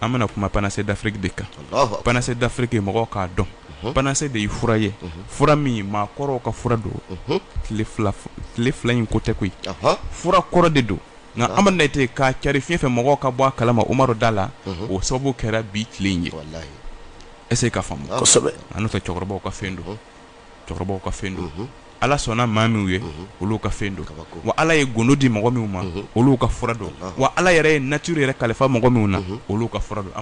an bɛna kuma panacée d'afrique de kan panacée d'afrique mɔgɔw k'a dɔn panacée de ye fura ye fura min maa kɔrɔw ka fura don tile fila in ko tɛ koyi fura kɔrɔ de don nka amadu ne tɛ k'a cari fiɲɛ fɛ mɔgɔw ka bɔ a kalama umaru da la o sababu kɛra bi tile in ye est-ce que k'a faamu an fɛ cɛkɔrɔbaw ka fɛn don cɛkɔrɔbaw ka fɛn don ala sɔnna maa minw ye olu ka fɛn don wa ala ye gundo di mɔgɔ minw ma olu ka fura don wa ala yɛrɛ ye nature yɛrɛ kalifa mɔgɔ minw na olu ka fura don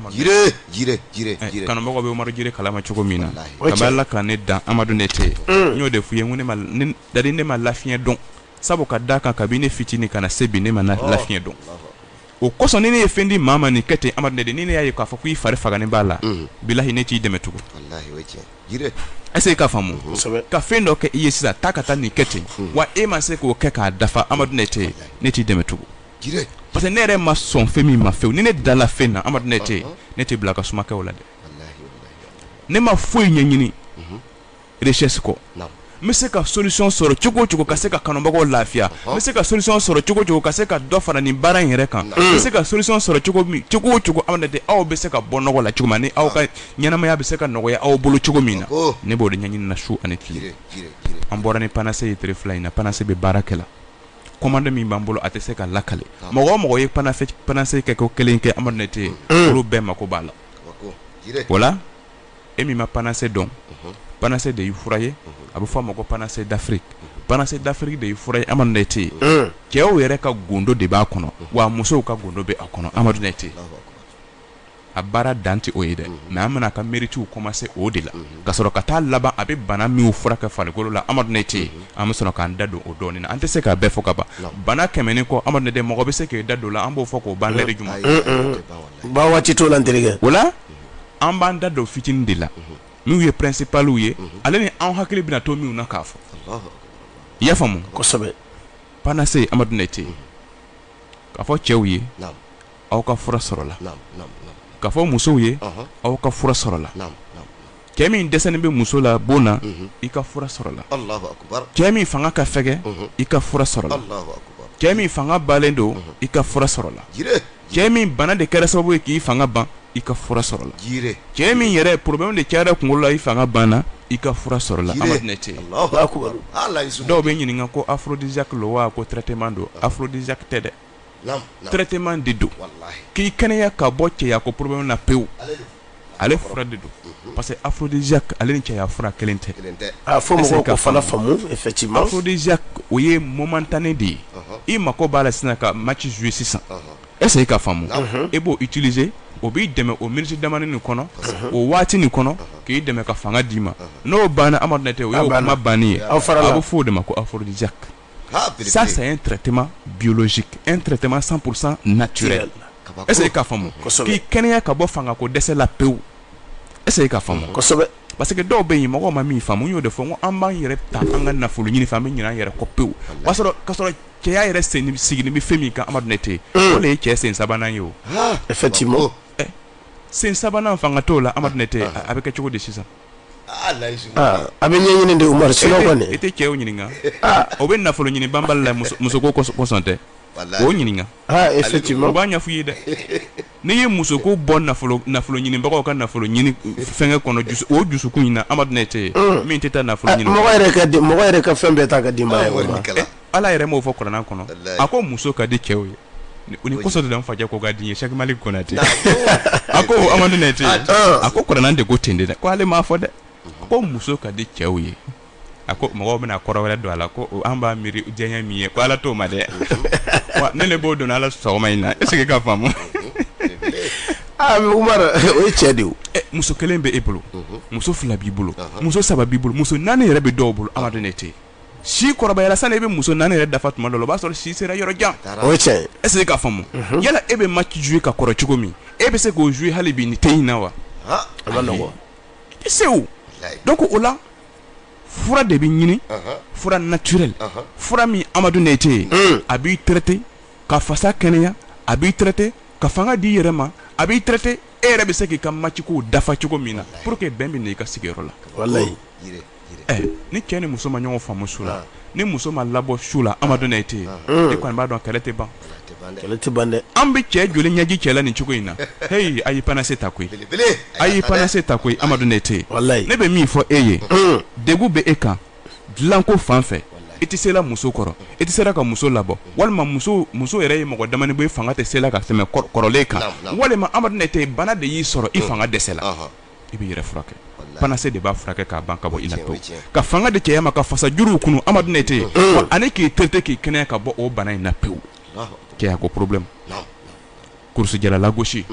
kanubagaw bɛ umaru jire kalama cogo min na kabi ala ka ne dan amadu ne tɛ n y'o de f'i ye ko ne da ne ma lafiɲɛ dɔn sabu ka da kan kabi ne fitinin ka na se bi ne ma lafiɲɛ dɔn o kosɔn ni ne ye fɛn di maa ma nin kɛ ten amadu ne de ni ne y'a ye k'a fɔ k'i fari faganen b'a la bilahi ne t'i dɛmɛ tugun est-ce que k'a faamu ka fɛn dɔ kɛ i ye sisan taa ka taa nin kɛ ten wa e ma se k'o kɛ k'a dafa amadu ne tɛ ne t'i dɛmɛ tugun parce que ne yɛrɛ ma sɔn fɛn min ma fewu ni ne dala fɛn na amadu ne tɛ ne tɛ bila ka suma kɛ o la dɛ ne ma foyi ɲɛɲini recherche kɔ naamu n bɛ se ka solution sɔrɔ cogo o cogo ka se ka kanubagaw lafiya n bɛ se ka solution sɔrɔ cogo o cogo ka se ka dɔ fara nin baara in yɛrɛ kan n bɛ se ka solution sɔrɔ cogo o cogo amadu ne tɛ aw bɛ se ka bɔ nɔgɔ la cogo min ani aw ka ɲɛnamaya bɛ se ka nɔgɔya aw bolo cogo min na oh. ne b'o de ɲɛɲini na su ani tile an bɔra ni panacée ye tere fila in na panacée bɛ baara kɛ la commande min b'an bolo a tɛ se ka lakale ah. mɔgɔ o mɔgɔ ye panacée kɛko kelen kɛ amadu ne tɛ ye mm. olu bɛɛ mako b'a la o la e min ma panacée dɔn panacée de ye fura ye a bɛ fɔ a ma ko panacée d'afrique panacée d'afrique de ye fura ye amadu ne tɛ yen cɛw yɛrɛ ka gundo de b'a kɔnɔ wa musow ka gundo bɛ a kɔnɔ amadu ne tɛ a baara dan tɛ o ye dɛ mais an bɛna a ka méritew commencer o de la ka sɔrɔ ka taa laban a bɛ bana minw furakɛ farikolo la amadu ne tɛ an bɛ sɔrɔ k'an da don o dɔɔnin na an tɛ se k'a bɛɛ fɔ ka ban bana kɛmɛ kɔ amadu ne tɛ mɔgɔ bɛ se k'i da don la an b'o fɔ k'o ban lɛri jumɛn ba waati t'o la n terikɛ o la an b'an da don fitinin de la minw ye principalw ye ale ni an hakili bɛna to minw na k'a fɔ i y'a faamu kosɛbɛ panacée amadu ne tɛ k'a fɔ cɛw ye aw ka fura sɔrɔla k'a fɔ musow ye aw ka fura sɔrɔla cɛ min dɛsɛlen bɛ muso la bon na i ka fura sɔrɔla cɛ min fanga ka fɛgɛ i ka fura sɔrɔla cɛ min fanga balen don i ka fura sɔrɔla cɛ min bana de kɛra sababu ye k'i fanga ban i ka fura sɔrɔla cɛ min yɛrɛ problème de cayara kunkolo la i fanga banna i ka fura sɔrɔla dɔw bɛ ɲininka ko aphrodisiaque lo wa ko traitement don aphrodisiaque tɛ dɛ traitement de don k'i kɛnɛya ka bɔ cɛya ko problème na pewu ale fura de don parce que aphrodisiaque ale ni cɛya fura kelen tɛ aphrodisiaque o ye momentané de ye i mako b'a la sisan ka match jouer sisan est-ce que ka faamu e b'o utiliser o b'i dɛmɛ o minute damani nin kɔnɔ o waati nin kɔnɔ k'i dɛmɛ ka fanga d'i ma n'o banna amadu ne tɛ o y'o kuma banni ye a bɛ fɔ o de ma ko aphrodisiaque ça c'est un traitement biologique un traitement cent pour cent naturel est-ce que ka faamu k'i kɛnɛya ka bɔ fanga ko dɛsɛ la pewu est-ce que e ka faamu parce que dɔw bɛ yen mɔgɔ ma min faamu n y'o de fɔ ko an b'an yɛrɛ ta an ka nafolo ɲini fɛ an bɛ ɲinɛ an yɛrɛ kɔ pewu k'a sɔrɔ cɛya yɛrɛ sigilen bɛ fɛn min kan amadu ne tɛ o de ye cɛ sen sabanan ye o effectivement sen sabanan fanga t'o la amadu ne tɛ a bɛ kɛ cogo di sisan Ah, ah, a bɛ ɲɛɲini de umaru sinon kɔni e tɛ cɛw ɲininka ah. o bɛ nafolo ɲini banbali la muso ko kosɔn tɛ o ɲininka effectivement o b'a ɲɛfɔ i ye dɛ n'i ye muso ko bɔ nafolo ɲinibagaw ka nafolo ɲini fɛnkɛ kɔnɔ o dusukun in na amadu ne tɛ yen mm. min tɛ taa nafolo ɲini mɔgɔ yɛrɛ ka fɛn bɛɛ ta ka di ma ala yɛrɛ m'o fɔ kuranɛ kɔnɔ a ko muso ka di cɛw ye u ni kɔsɔ de fajɛ ko ka di ye Cheikh Malik Konate a ko amadu ne tɛ a ko kuranɛ de ko ten de dɛ ko ale m'a fɔ dɛ a ko muso ka di cɛw ye a ko mɔgɔw bɛna kɔrɔ wɛrɛ don a la ko an b'a miiri diya min ye ko ala t'o ma dɛ ne le b'o dɔn ala sɔgɔma in na est-ce que ka faamu Ah, o ye cɛ de eh, muso kelen bɛ e bolo muso fila b'i bolo muso saba b'i bolo muso naani yɛrɛ bɛ dɔw bolo amadu ne tɛ si kɔrɔbayala sani e bɛ muso naani yɛrɛ dafa tuma dɔ la o b'a sɔrɔ si sera yɔrɔ jan o ye tiɲɛ ye est ce que ka faamu yala e bɛ match jouer ka kɔrɔ cogo min e bɛ se k'o jouer hali bi nin tɛ in na wa a man nɔgɔn i tɛ se o donc o la fura de bɛ ɲini fura naturel fura min Amadu Nɛyite ye a b'i traiter ka fasa kɛnɛya a b'i traiter ka fanga d'i yɛrɛ ma a b'i traiter e yɛrɛ bɛ se k'i ka match kow dafa cogo min na pour que bɛn bɛ na i ka sigiyɔrɔ la walahi. ni cɛ ni muso ma ɲɔgɔn faamu su la ni muso ma labɔ su la amadu ne tɛ yen e kɔni b'a dɔn kɛlɛ tɛ ban tɛ ban dɛ an bɛ cɛ joli ɲɛji cɛ la nin cogo in na hey a y' panase ta koyi a y'i panase ta koyi amadu ne tɛ ne bɛ min fɔ e ye degun bɛ e kan dilanko fan fɛ e tɛ se la muso kɔrɔ e tɛ se la ka muso labɔ walima muso yɛrɛ ye mɔgɔ damanin bɔ i fanga tɛ se la ka tɛmɛ kɔrɔlen kan walima amadu ne tɛ bana de y'i sɔrɔ i fanga dɛsɛ la i bɛ yɛrɛ furakɛ panacée de b'a furakɛ k'a ban ka bɔ i la pewu ka fanga di cɛya ma ka fasa juruw kunun amadu ne tɛ yen ani k'i traiter k'i kɛnɛya ka bɔ o bana in na pewu cɛya ko problème kurusijala lagosi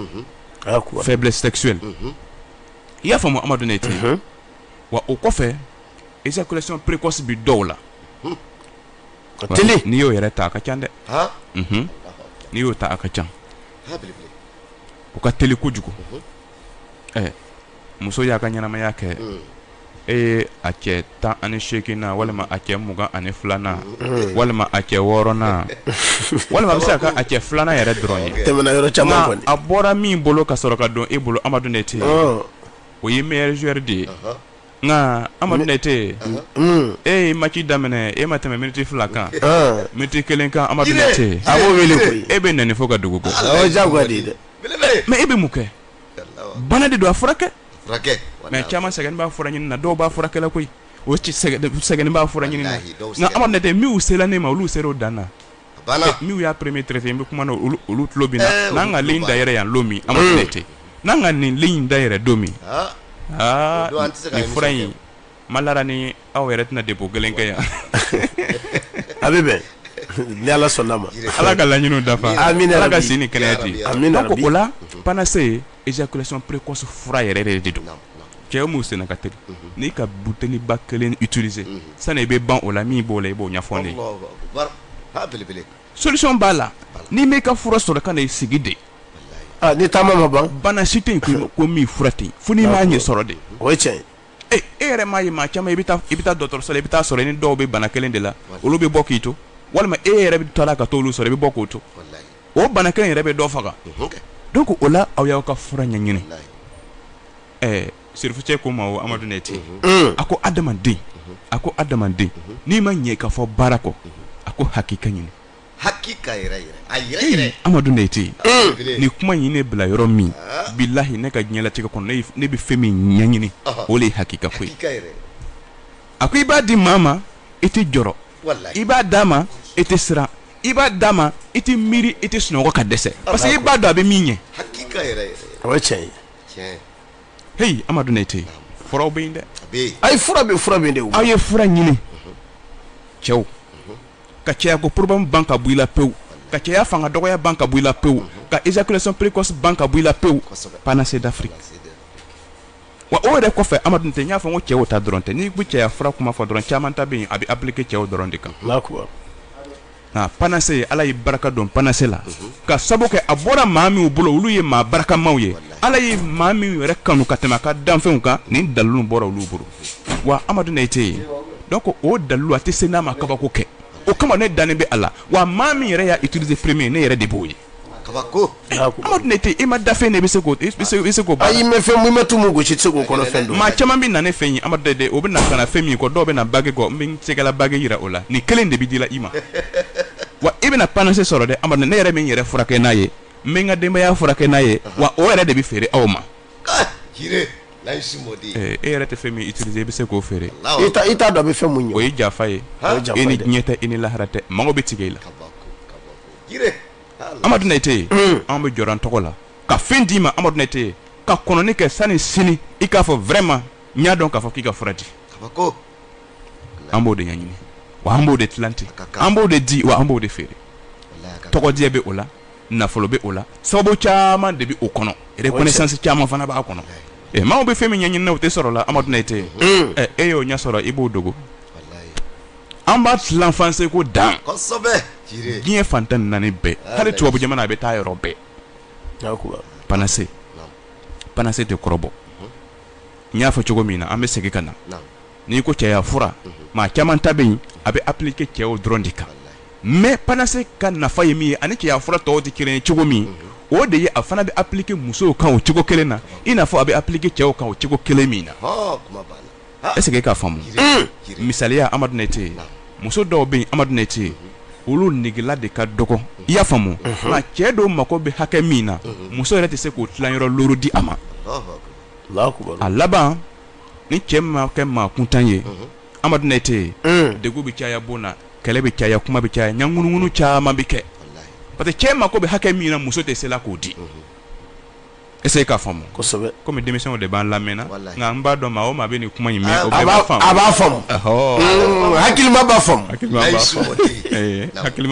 faiblesse sexuelle i y'a faamu amadu ne tɛ wa o kɔfɛ éjaculation précoce bɛ dɔw la n'i y'o yɛrɛ ta a ka ca dɛ n'i y'o ta a ka ca o ka teli kojugu ɛ muso y'a ka ɲɛnamaya kɛ e ye a cɛ tan ani seeginnan walima a cɛ mugan ani filanan walima a cɛ wɔɔrɔnan walima a bɛ se ka a cɛ filanan yɛrɛ dɔrɔn ye tɛmɛna yɔrɔ caman nka kɔni a bɔra min bolo ka sɔrɔ ka don e bolo amadu ne tɛ yen Ɔɔ, o ye meilleur joueur de ye nka amadu ne tɛ yen mm, e ye match daminɛ e ma tɛmɛ miniti fila kan ɔɔ. miniti kelen kan amadu ne tɛ yen a b'o wele koyi e bɛ nɛni fo ka dugu bɔ o ye jagoya de ye dɛ mais e bɛ mun kɛ bana de don a furakɛ mais caman sɛgɛnnen b'a fura ɲini na dɔw b'a furakɛ la koyi o sɛgɛnnen b'a fura ɲini na nka amadu ne tɛ minnu sera ne ma olu sera o dan na minnu y'a premier traité n bɛ kuma na olu tulo bɛ n na n'an ka ligne dayɛlɛ yan don min amadu ne tɛ n'an ka nin ligne dayɛlɛ don min aa nin fura in Ma la ni aw yɛrɛ tɛna dépôt kelen kɛ yan a bɛ bɛn ni ala sɔnna ma ala ka laɲini dafa ala ka si ni kɛnɛya di donc o la panacée éjaculation précoce fura yɛrɛ de don cɛ min senna ka teli n'i ka buteliba kelen utiliser sani i bɛ ban o la min b'o la i b'o ɲɛfɔ ne ye solution b'a la n'i m'i ka fura sɔrɔ kana i sigi de ni taama ma ban bana si tɛ ko min fura tɛ yen fo n'i m'a ɲɛ sɔrɔ de o ye tiɲɛ e yɛrɛ m'a ye maa caman i bɛ i bɛ taa dɔgɔtɔrɔso la i bɛ taa sɔrɔ i ni dɔw bɛ bana kelen de la olu bɛ bɔ k'i to walima e yɛrɛ bɛ taa ka t'olu sɔrɔ i bɛ bɔ k'o to o bana kelen yɛrɛ bɛ dɔ faga donc o la aw y'aw ka fura ɲɛɲini ɛɛ sirifukɛ kuma o amadu ne tɛ a ko adamaden a ko adamaden n'i ma ɲɛ ka fɔ baara kɔ a ko hakika ɲini hakika yɛrɛ yɛrɛ a yɛrɛ yɛrɛ amadu ne tɛ yen ni kuma in ye ne bila yɔrɔ min ah. bilahi ne ka diɲɛlatigɛ kɔnɔ ne bɛ fɛn min ɲɛɲini o de ye hakika ko ye a ko i b'a di maa ma i tɛ jɔrɔ i b'a d'a ma i tɛ siran i b'a d'a ma i tɛ miiri i tɛ sunɔgɔ ka dɛsɛ parce que i b'a dɔn a bɛ min ɲɛ o ye tiɲɛ ye heyi amadu ne tɛ yen furaw bɛ yen dɛ ayi fura bɛ fura bɛ yen dɛ aw ye fura ɲini cɛw ka cɛya ko problème ban ka bɔ i la pewu ka cɛya fanga dɔgɔya ban ka bɔ i la pewu ka éjaculation précoce ban ka bɔ i la pewu panacée d'Afrique wa o yɛrɛ kɔfɛ amadu nayite n y'a fɔ n ko cɛw ta dɔrɔn tɛ n'i bɛ cɛya fura kuma fɔ dɔrɔn caman ta bɛ yen a bɛ appliquer cɛw dɔrɔn de kan panacée ala ye barika don panacée la ka sabu kɛ a bɔra maa minnu bolo olu ye maa barikamaw ye ala ye maa minnu yɛrɛ kanu ka tɛmɛ a ka danfɛnw kan nin dalilu bɔra olu bolo wa amadu nayite donc o dalilu a tɛ se n'a ma kabako kɛ o kama ne dalen bɛ a la wa maa min yɛrɛ y'a utiliser premier ne yɛrɛ de b'o ye amadu nayite i ma da fɛn de bɛ se k' fɛn gosi se k'o maa caman bɛ na ne fɛ yen amadu o bɛ na ka na fɛn min kɔ dɔw bɛ na bague kɔ n bɛ n tɛgɛ la bague jira o la nin kelen de bɛ di la i ma wa i bɛna panacée sɔrɔ dɛ amadu ne yɛrɛ bɛ n yɛrɛ furakɛ n'a ye n bɛ n ka denbaya furakɛ n'a ye wa o yɛrɛ de bɛ feere aw ma e yɛrɛ tɛ fɛn min utiliser i bɛ se k'o feere i t'a dɔn a bɛ fɛn min ɲɛ o ye janfa ye e ni diɲɛ tɛ e ni lahara tɛ mago bɛ tigɛ i la Amadu Nayite anw bɛ jɔrɔ an tɔgɔ la ka fɛn d'i ma Amadu Nayite ka kɔnɔni kɛ sani sini i k'a fɔ vraiment n y'a dɔn k'a fɔ k'i ka fura di an b'o de ɲɛɲini wa an b'o de tilan ten an b'o de di wa an b'o de feere tɔgɔdiya bɛ o la nafolo bɛ o la sababu caman de bɛ o kɔnɔ reconnaissance caman fana b'a kɔnɔ ɛ maaw bɛ fɛn min ɲɛɲini na o tɛ sɔrɔ la Amadu Nayite e y'o ɲɛ sɔrɔ i b'o dogo an b'a tilan f'an seko dan diɲɛ fan tan ni naani bɛɛ hali tubabu jamana a bɛ taa yɔrɔ bɛɛ panacée panacée tɛ kɔrɔbɔ n y'a fɔ cogo min na an bɛ segin ka na. n'i ko cɛya fura maa caman ta bɛ yen a bɛ appliquer cɛw dɔrɔn de kan mais panacée ka nafa ye min ye ani cɛya fura tɔw tɛ kelen ye cogo min o de ye a fana bɛ appliquer musow kan o cogo kelen na i n'a fɔ a bɛ appliquer cɛw kan o cogo kelen min na est-ce que i k'a faamu misaliya amadu nayite muso dɔw bɛ yen amadu nayite olu negela de ka dɔgɔ i y'a faamu nka cɛ dɔw mago bɛ hakɛ min na muso yɛrɛ tɛ se k'o tilayɔrɔ looru di a ma a laban ni cɛ ma kɛ maa kuntan ye amadu nayite degun bɛ caya bon na kɛlɛ bɛ caya kuma bɛ caya ŋunuŋunu caman bɛ kɛ parce que cɛ mako bɛ hakɛ min na muso tɛ se la k'o di est-ce que i k'a faamu kɔmi denmisɛnw de b'an lamɛnna nka n b'a dɔn maa o maa bɛ nin kuma in mɛn a b'a faamu hakilima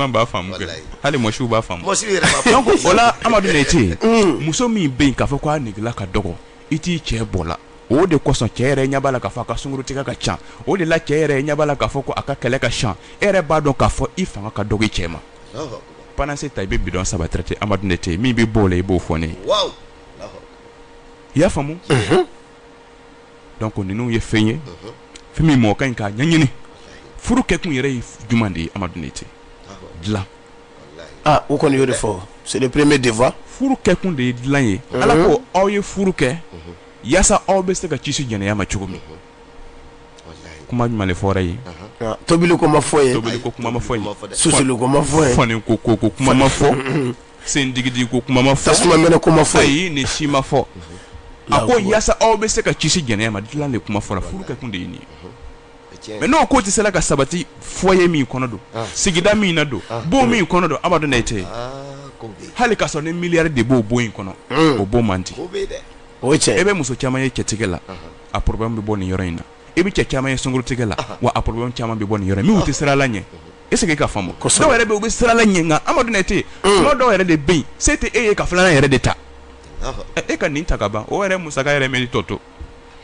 b'a faamu hali musow b'a faamu o la amadu nayite muso min bɛ yen k'a fɔ k'a negela ka dɔgɔ i t'i cɛ bɔ la o de kosɔn cɛ yɛrɛ ɲɛ b'a la k'a fɔ a ka sunkurutigɛ ka ca o de la cɛ yɛrɛ ɲɛ b'a la k'a fɔ ko a ka kɛlɛ ka ca e yɛrɛ b'a dɔn k'a fɔ i fanga ka dɔgɔ i cɛ ma panase ta i bɛ bidɔn saba ta amadu nɛtɛ min bɛ bɔ o la i b'o fɔ ne ye i y'a faamu donc ninnu ye fɛn ye fɛn min mɔgɔ ka ɲi k'a ɲɛɲini furu kɛkun yɛrɛ ye jumɛn de ye amadu nɛtɛ dilan ah u kɔni y'o de fɔ c'est le premier devoir furu kɛkun de ye dilan ye mhm. ala ko aw ye furu kɛ mhm. yaasa aw bɛ se ka kisi jɛnɛya ma cogo min mhm. kuma jumɛn de fɔra ye ah, tobili ko ma fɔ ye tobili ko kuma ma fɔ ye susuli ko ma fɔ ye fani ko ko kuma ma fɔ sen digidigi ko kuma ma fɔ tasuma mɛnɛ ko ma fɔ ayi nin si ma fɔ a ko yaasa aw bɛ se ka kisi jɛnɛya ma dilan de kuma fɔra furu kɛkun de ye nin ye mais n'o ko tɛ se la ka sabati foyer min kɔnɔ don ah. sigida min na don ah. bon min kɔnɔ don amadu nɛtɛ ah, hali ka sɔrɔ ni miliyari de b'o bon in kɔnɔ hmm. o bon man di o cɛ e bɛ muso caman ye cɛtigɛ la a problème bɛ bɔ nin yɔrɔ in na i bɛ cɛ caman ye sunkurutigɛ la wa a problème caman bɛ bɔ nin yɔrɔ min tɛ sirala ɲɛ est-ce que i k'a faamu dɔw yɛrɛ bɛ u bɛ sirala ɲɛ nka amadu nɛtɛ hmm. dɔw yɛrɛ de bɛ yen se tɛ e ye ka filanan yɛrɛ de ta e ka nin ta ka ban o yɛrɛ musaka yɛrɛ mi tɔ to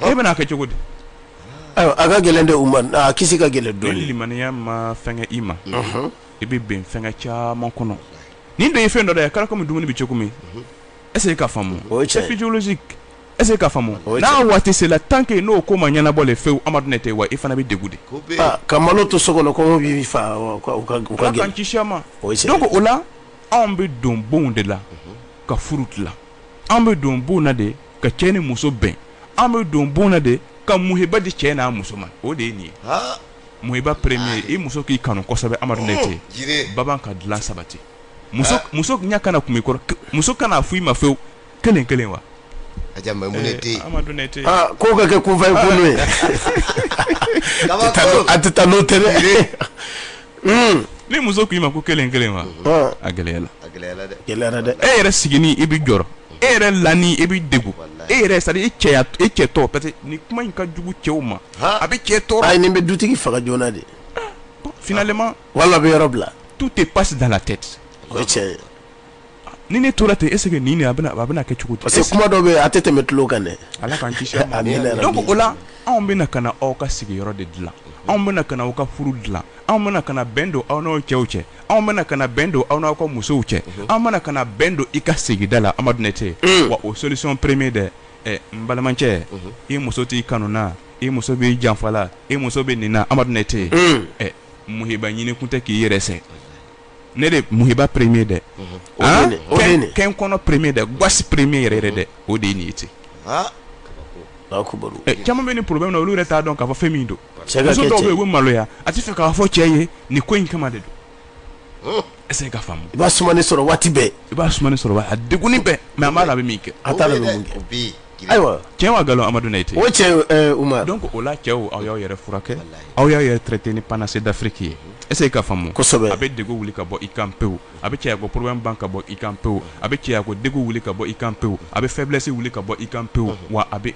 e bɛna kɛ cogo di a ka gɛlɛn dɛ u ma a kisi ka gɛlɛn dɔɔni limaniya ma fɛnkɛ i ma i bɛ bin fɛnkɛ caman kɔnɔ nin de ye fɛn dɔ de ye a kɛra kɔmi dumuni bɛ cogo min est-ce que i k'a faamu c'est physiologique est-ce que i k'a faamu n'a waati sera tant que n'o ko ma ɲɛnabɔ de fewu amadu nɛtɛ wa i fana bɛ degun de ka malo to so kɔnɔ kɔngɔ b'i faga ala k'an kisi a ma donc o la anw bɛ don bonw de la ka furu dilan an bɛ don bon na de ka cɛ ni muso bɛn an bɛ don bon na de ka muhiba di cɛ n'a muso ma o de ye nin ye muhiba premier i muso k'i kanu kosɛbɛ amadu nɛtɛ baban ka dilan sabati muso ɲɛ kana kun i kɔrɔ muso kana fɔ i ma fewu kelen kelen wa a ko ka kɛ kunfɛ ye a tɛ taa n'o tɛ ni muso k'i ma ko kelen kelen wa a gɛlɛyara dɛ e yɛrɛ sigini i bɛ jɔrɔ e yɛrɛ lani i bɛ degun e yɛrɛ c'est à dire e cɛ tɔ parce que nin kuma in ka jugu cɛw ma a bɛ cɛ tɔɔrɔ nin bɛ dutigi faga joona de finalement wal'a bɛ yɔrɔ bila tout te passe dans la tête ni ne tora ten est-ce que nin a bɛna kɛ cogo di parce que kuma dɔw bɛ a tɛ tɛmɛ tulo kan dɛ ala k'an kisi a ma donc o la anw bɛna ka na aw ka sigiyɔrɔ de dilan anw bɛna ka na aw ka furu dilan anw bɛna ka na bɛn don aw n'aw cɛw cɛ anw bɛna ka na bɛn don aw n'aw ka musow cɛ mhm. anw bɛna ka na bɛn don i ka sigida la amadu nɛtɛ mm. wa o solution premier dɛ ɛ n balimacɛ mhm. i muso t'i kanu na i muso b'i janfa la i muso bɛ nin na amadu nɛtɛ mm. ɛ muhiba ɲini kun tɛ k'i yɛrɛ sɛ ne de muhiba premier dɛ kɛ kɔnɔ premier dɛ gasi premier yɛrɛ yɛrɛ dɛ o de ye nin ye ten caman bɛ nin problème na olu yɛrɛ t'a dɔn k'a fɔ fɛn min don muso dɔw bɛ yen u bɛ maloya a tɛ fɛ k'a fɔ cɛ ye nin ko in kama de don est-ce que i k'a faamu i b'a sumannen sɔrɔ waati bɛɛ i b'a sɔrɔ a degunnen bɛ mais a b'a la a bɛ min kɛ Ayiwa tiɲɛ wa nkalon amadu nete o tiɲɛ umar donc o la cɛw aw y'aw yɛrɛ furakɛ aw y'aw yɛrɛ traiter ni panacée d'Afrique ye est-ce que i k'a faamu kosɛbɛ a bɛ degun wuli ka bɔ i kan pewu a bɛ cɛya ko problème ban ka bɔ i kan pewu a bɛ cɛya ko degun wuli ka bɔ i kan pewu a bɛ faiblesse wuli ka bɔ i kan pewu wa a bɛ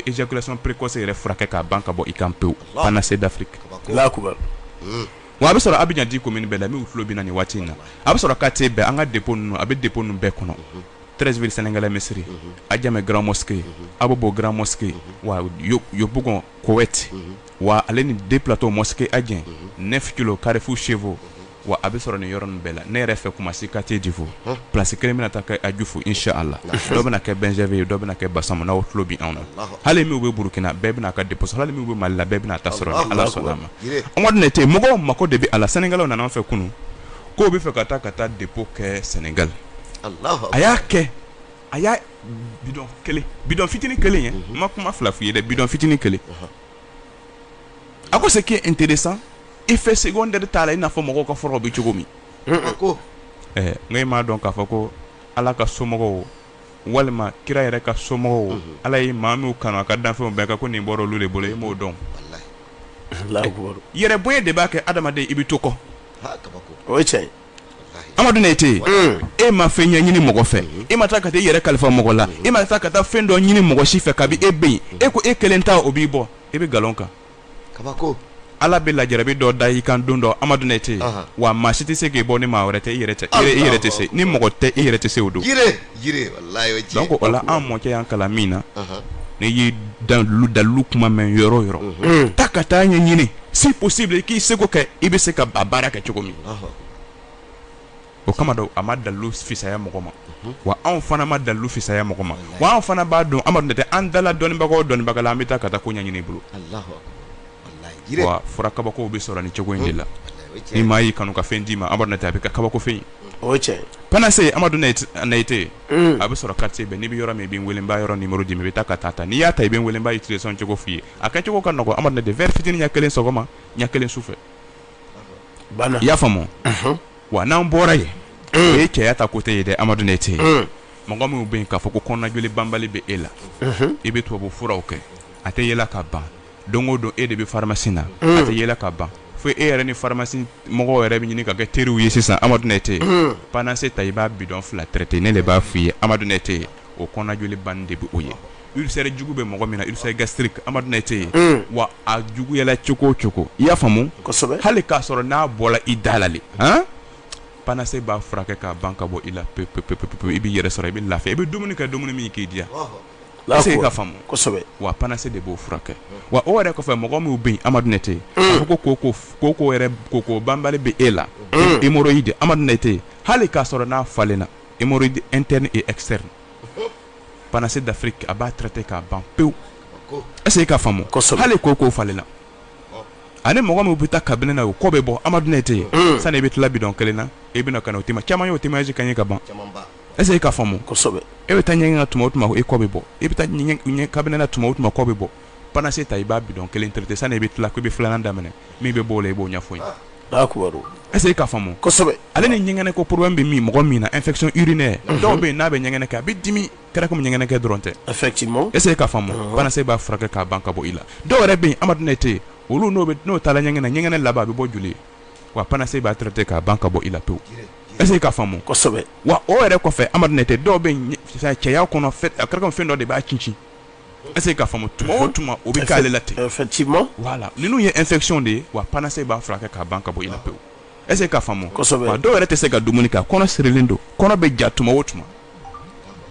éjaculation précoce yɛrɛ furakɛ k'a ban ka bɔ i kan pewu panacée d'Afrique wa a bɛ sɔrɔ Abidjan dix communes bɛɛ la minnu tulo bɛ an na nin waati in na a bɛ sɔrɔ quartier bɛɛ an ka dépôt ninnu a bɛ dépôt ninnu bɛɛ kɔnɔ trɛsiriri sɛnɛkɛla misisiriri a jamɛ garanransigi a bɛ bɔ garanransigi bɔgɔ kowɛti wa ale ni den filatɔ msi a jan nefit karifu sefo wa a bɛ sɔrɔ nin yɔrɔ nin bɛɛ la ne yɛrɛ fɛ kuma se ka tɛ defo psi kelen bɛna ta a ju fo si a la dɔ bɛna kɛ bɛnzɛn ye dɔ bɛna kɛ basa n' tulo bɛ anw na hali min bɛ burukina bɛɛ bɛna ka disa hali min bɛ ma la bɛɛ bɛna ta sɔrɔ ala sɔrɔ a ma ne tɛ mɔgɔ mako de bɛ a la sannikɛlaw nana fɛ kunun k'u b'a fɛ ka taa ka taa dépôt kɛ sɛnɛgali a y'a kɛ a y'a bidɔn fitinin kelen ye n ma kuma fila f'i ye dɛ bidɔn fitinin kelen a ko ce qui est intéressant effet secondaire t'a la i n'a fɔ mɔgɔw ka furaw bɛ cogo min ko nka e m'a dɔn k'a fɔ ko ala ka somɔgɔw walima kira yɛrɛ ka somɔgɔw ala ye maa minnu kanu a ka danfɛnw bɛɛ kan ko nin bɔra olu de bolo i b'o dɔn yɛrɛ bonya de b'a kɛ adamaden i bɛ to kɔ o ye tiɲɛ ye amadu nete mm. e ma fɛn ɲɛɲini mɔgɔ fɛ mm-hmm. e ma taa ka taa i yɛrɛ kalifa mɔgɔ la mm-hmm. e ma taa ka taa fɛn dɔ ɲini mɔgɔ si fɛ kabi e bɛ yen e ko e kelen ta o b'i bɔ e bɛ nkalon kan kabako ala bɛ lajarabi dɔ da i kan don dɔ amadu nete wa maa si tɛ se k'i bɔ ni maa wɛrɛ tɛ i yɛrɛ tɛ se ni mɔgɔ tɛ i yɛrɛ tɛ se o don donc o la an mɔkɛ y'an kalan min na n'i ye dalu dalu kuma mɛn yɔrɔ yɔrɔ taa ka taa a ɲɛ ɲini si possible i k'i seko kɛ i bɛ se k'a baara kɛ cogo min o kama don a ma dalu fisaya mɔgɔ ma wa anw fana ma dalu fisaya mɔgɔ ma wa anw fana b'a dɔn amadu nete an dala dɔnnibagaw dɔnnibaga la an bɛ taa ka taa ko ɲɛɲini u bolo fura kabakow bɛ sɔrɔ ni cogo in de la ni maa y'i kanu ka fɛn d'i ma a bɛ kɛ kabako fɛn ye o ye tiɲɛ panacée amadu nete a bɛ sɔrɔ quartier bɛɛ n'i bɛ yɔrɔ min i bɛ n wele n b'a yɔrɔ numéro d'i ma i bɛ taa ka taa a ta n'i y'a ta i bɛ n wele n b'a utilisation cogo f'i ye a kɛ cogo ka nɔgɔ amadu nete verre fitinin ɲɛ kelen sɔgɔma ɲɛ kelen su fɛ i y'a faamu wa n'an bɔra yen o ye cɛya ta côté ye dɛ amadu nete mɔgɔ minnu bɛ yen k'a fɔ ko kɔnɔnajoli banbali bɛ e la i bɛ tubabu furaw kɛ a tɛ yɛlɛ ka ban don o don e de bɛ faramasi na a tɛ yɛlɛ ka ban fo e yɛrɛ ni faramasi mɔgɔw yɛrɛ bɛ ɲini ka kɛ teriw ye sisan Amadu Naïté panacée ta i b'a bidɔn fila traité ne de b'a fɔ i ye Amadu Naïté o kɔnɔnajoli banni de bɛ o ye ulcère jugu bɛ mɔgɔ min na ulcère gastrique Amadu Naïté wa a juguyala cogo o cogo i y'a faamu hali k'a sɔrɔ n'a bɔla i da la le panacée b'a furakɛ k'a ban ka bɔ i la pewu i b'i yɛrɛ sɔrɔ i bɛ lafiya i bɛ dumuni kɛ dumuni min k'i diya wa pan se de b'o furakɛ wa o yɛrɛ kɔfɛ mɔgɔ min bɛ amadute ko banbali bɛ e la e di amadute hali k'a sɔrɔ n'a falenle na e tɛ ni e kisɛsɛri pan se dafiri a b'a tɛ k'a ban pewu ɛ ka hali ko ko falenla ani mɔgɔ min bɛ taa kabini na o kɔ bɛ bɔ amadutɛ yen sani i bɛ tilabi dɔn kelen na e bɛ o tema caman ye o temasi ka ɲɛ ka ban Est-ce que i k'a faamu kosɛbɛ e bɛ taa ɲɛgɛn na tuma o tuma e kɔ bɛ bɔ e bɛ taa ɲɛ kabini na tuma o tuma kɔ bɛ bɔ panacée ta i b'a bidɔn kelen traité sani i bɛ tila k'i bɛ filanan daminɛ min bɛ bɔ o la i b'o ɲɛfɔ n ye est-ce que i k'a faamu kosɛbɛ ale ni ɲɛgɛnɛ ko problème bɛ min mɔgɔ min na infection urinaire dɔw bɛ n'a bɛ ɲɛgɛnɛ kɛ a bɛ dimi kɛra comme ɲɛgɛnɛ kɛ dɔrɔn tɛ e est-ce que i k'a faamu panacée b'a furakɛ k'a ban ka bɔ i la dɔw yɛrɛ bɛ Amadu Naïté olu n'o taala ɲɛgɛn ɲɛgɛnɛ laban a bɛ bɔ joli ye wa panacée b'a traité k'a ban ka bɔ i la pewu est-ce que i k'a faamu wa o yɛrɛ kɔfɛ Amadu Naïté dɔw bɛ cɛya kɔnɔ a kɛra comme fɛn dɔ de b'a cincin est-ce que i k'a faamu tuma o tuma o bɛ k'ale la ten voilà ninnu ye infection de ye wa panacée b'a furakɛ k'a ban ka bɔ i la pewu est-ce que i k'a faamu dɔw yɛrɛ tɛ se ka dumuni kɛ kɔnɔ sirilen don kɔnɔ bɛ ja tuma o tuma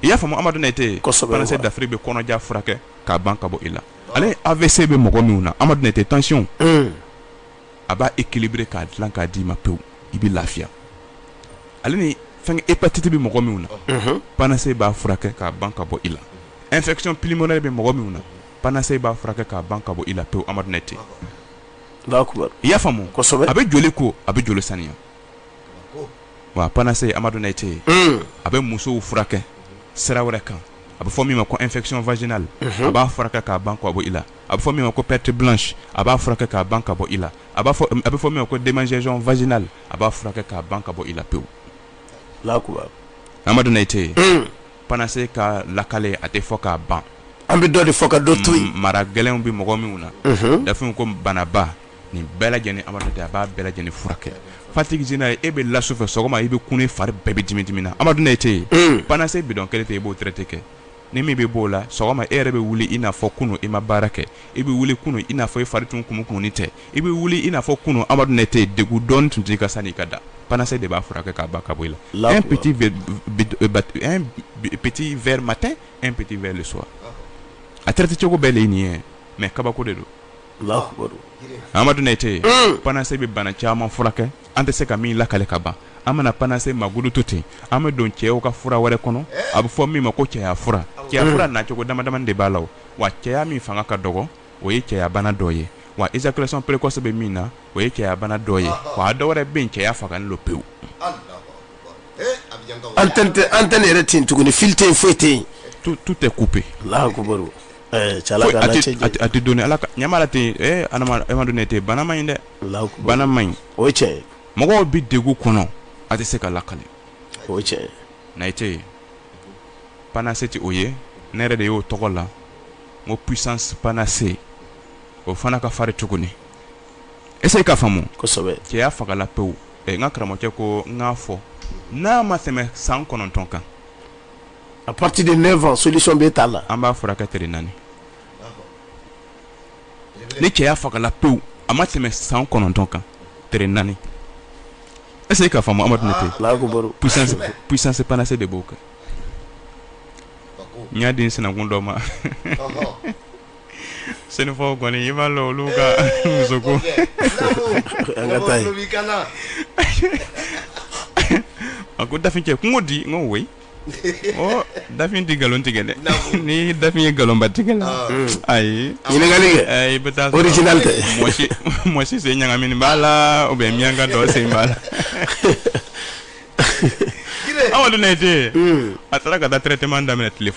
i y'a faamu Amadu Naïté panacée d'Afrique bɛ kɔnɔja furakɛ k'a ban ka bɔ i la ale AVC bɛ mɔgɔ minnu na Amadu Naïté tension a b'a équilibré k'a dilan k'a d'i ma pewu i bɛ lafiya ale ni fɛn hépatite bɛ mɔgɔ minnu na panacée b'a furakɛ k'a ban ka bɔ i la infection pulmonaire bɛ mɔgɔ minnu na panacée b'a furakɛ k'a ban ka bɔ i la pewu Amadu Naïté i y'a faamu a bɛ joli ko a bɛ joli saniya wa panacée Amadu Naïté a bɛ musow furakɛ sira wɛrɛ kan a bɛ fɔ min ma ko infection vaginale a b'a furakɛ k'a ban ka bɔ i la a bɛ fɔ min ma ko perte blanche a b'a furakɛ k'a ban ka bɔ i la a b'a fɔ a bɛ fɔ min ma ko démangeaison vaginale a b'a furakɛ k'a ban ka bɔ i la pewu Amadu Naïté panacée ka lakale a tɛ fɔ k'a ban an bɛ dɔ de fɔ ka dɔ to yen mara gɛlɛnw bɛ mɔgɔ minnu na dafinw ko banaba nin bɛɛ lajɛlen Amadu Naïté a b'a bɛɛ lajɛlen furakɛ fatigue générale e bɛ la sufɛ sɔgɔma i bɛ kunun i fari bɛɛ bɛ dimi dimi na Amadu Naïté panacée bidɔn kelen tɛ yen i b'o traiter kɛ Ni min bɛ bɔ o la sɔgɔma e yɛrɛ bɛ wuli i n'a fɔ kunun i ma baara kɛ i bɛ wuli kunun i n'a fɔ i fari tun kumukumuni tɛ i bɛ wuli i n'a fɔ kunun amadu nete degun dɔɔni tun t'i kan sani i ka da panacée de b'a furakɛ k'a ban ka bɔ i la un petit verre matin un petit verre le soir a traité cogo bɛɛ de nin ye mais kabako de don amadu nete panacée bɛ bana caman furakɛ an tɛ se ka min lakale ka ban an bɛna panacée mankutu to ten an bɛ don cɛw ka fura wɛrɛ kɔnɔ a bɛ fɔ min ma ko cɛya fura cɛya fura nacogo damadama de b'a la wa cɛya min fanga ka dɔgɔ o ye cɛyabana dɔ ye wa éjaculation précoce bɛ min na o ye cɛyabana dɔ ye wa dɔ wɛrɛ bɛ yen cɛya fagalen don pewu antenne yɛrɛ tɛ yen tuguni ni fil tɛ foyi tɛ yen tout tout est coupé la don ala amadu nete bana man ɲi dɛ bana man ɲi o cɛ mɔgɔw bɛ degun kɔnɔ a tɛ se ka lakale o cɛ nete panacée tɛ o ye ne yɛrɛ de y'o tɔgɔ la ko puissance panacée o fana ka fari tuguni essaye ka faamu kosɛbɛ cɛya fagala pewu n ka karamɔgɔcɛ ko n k'a fɔ n'a ma tɛmɛ san kɔnɔntɔn kan à partir de neuf ans solution bɛ t'a la an b'a furakɛ tile naani ni cɛya fagala pewu a ma tɛmɛ san kɔnɔntɔn kan tile naani essaye ka faamu amadu nete puissance panacée de b'o kɛ n y'a di n sinankun dɔ ma senufɔ kɔni i b'a lɔn olu ka musoko a ko dafin cɛ kungo di n ko dafin tɛ nkalon tigɛ dɛ ni dafin ye nkalonba tigɛ la ayi ɲininkali kɛ i bɛ taa mɔgɔ si sen ɲagamini b'a la ou bien miyanka dɔ sen b'a la amadu nete a taara ka taa traitement daminɛ tile fɔlɔ